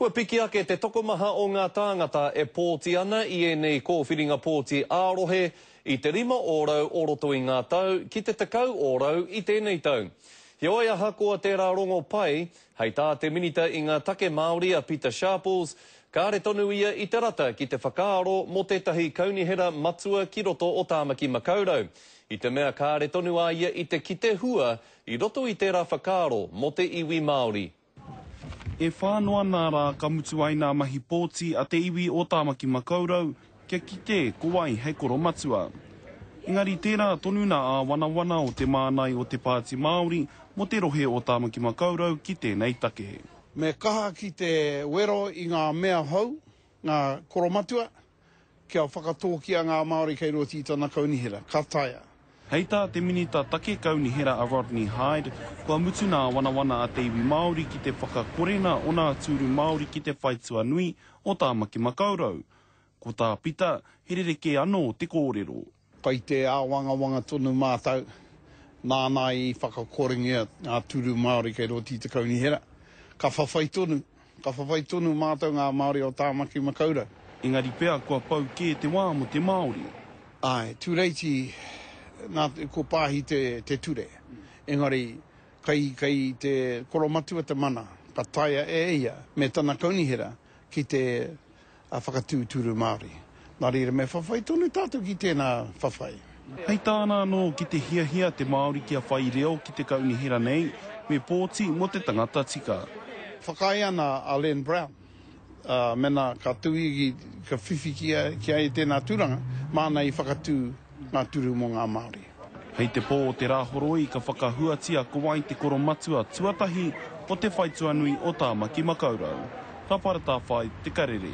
Kua piki ake te tokomaha o ngā tāngata e pōti ana i ēnei kōwhiringa pōti ā-rohe i te rima ōrau o roto i ngā tau ki te tekau ōrau i tēnei tau. Heoi ahakoa tērā rongo pai, hei tā te Minita i ngā Take Māori a Pita Sharples, kāre tonu ia i te rata ki te whakaaro mō tētahi kaunihera matua ki roto o Tāmaki Makaurau, i te mea kāre tonu a ia i te kite hua i roto i tērā whakaaro mō te iwi Māori. E whā noa nā rā ka mutu ai nā mahi pōti a te iwi o Tāmaki Makaurau kia kite ko wai hei koromatua. Engari tērā tonu nā āwanawana o te mānai o te Pāti Māori mō te rohe o Tāmaki Makaurau ki tēnei take. Me kaha ki te wero i ngā mea hou, ngā koromatua, Kia whakatōkia ngā Māori kei roto i tana kaunihera, ka taea. Hei tā te Minita Take Kaunihera a Rodney Hide, kua mutu nā wanawana a te iwi Māori ki te whakakore nā ōna atu uru Māori ki te whai tuanui o Tāmaki Makaurau. Ko tā Pita, he rerekē anō te kōrero. Kai te āwangawanga tonu mātou, nāna i whakakorengia ngā tūru Māori kei roto i te kaunihera. Ka whawhai tonu, ka whawhai tonu mātou ngā Māori o Tāmaki Makaurau. Engari pea kua pau kē te wā mō te Māori. Āe, Tūreiti, nā, ko Pāhi te, te ture. Engari, kei, kei te koromatua te mana, ka taea e ia me tana kaunihera ki te a whakatūturu Māori. Nā reira me whawhai tonu tātou ki tēnā whawhai. Hei tāna anō, ki te hiahia te Māori kia whai reo ki te kaunihera nei, me pōti mō te tangata tika. Whakaae ana a Len Brown, ā, mēnā ka tū ia ki, ka whiwhi ki a, ki a ia tēnā tūranga, māna i whakatū ngā turu mō ngā Māori. Hei te pō o te Rāhoroi ka whakahuatia ko wai te koromatua tuatahi o te whaituanui o Tāmaki Makaurau. Ka para tāwhai te karere.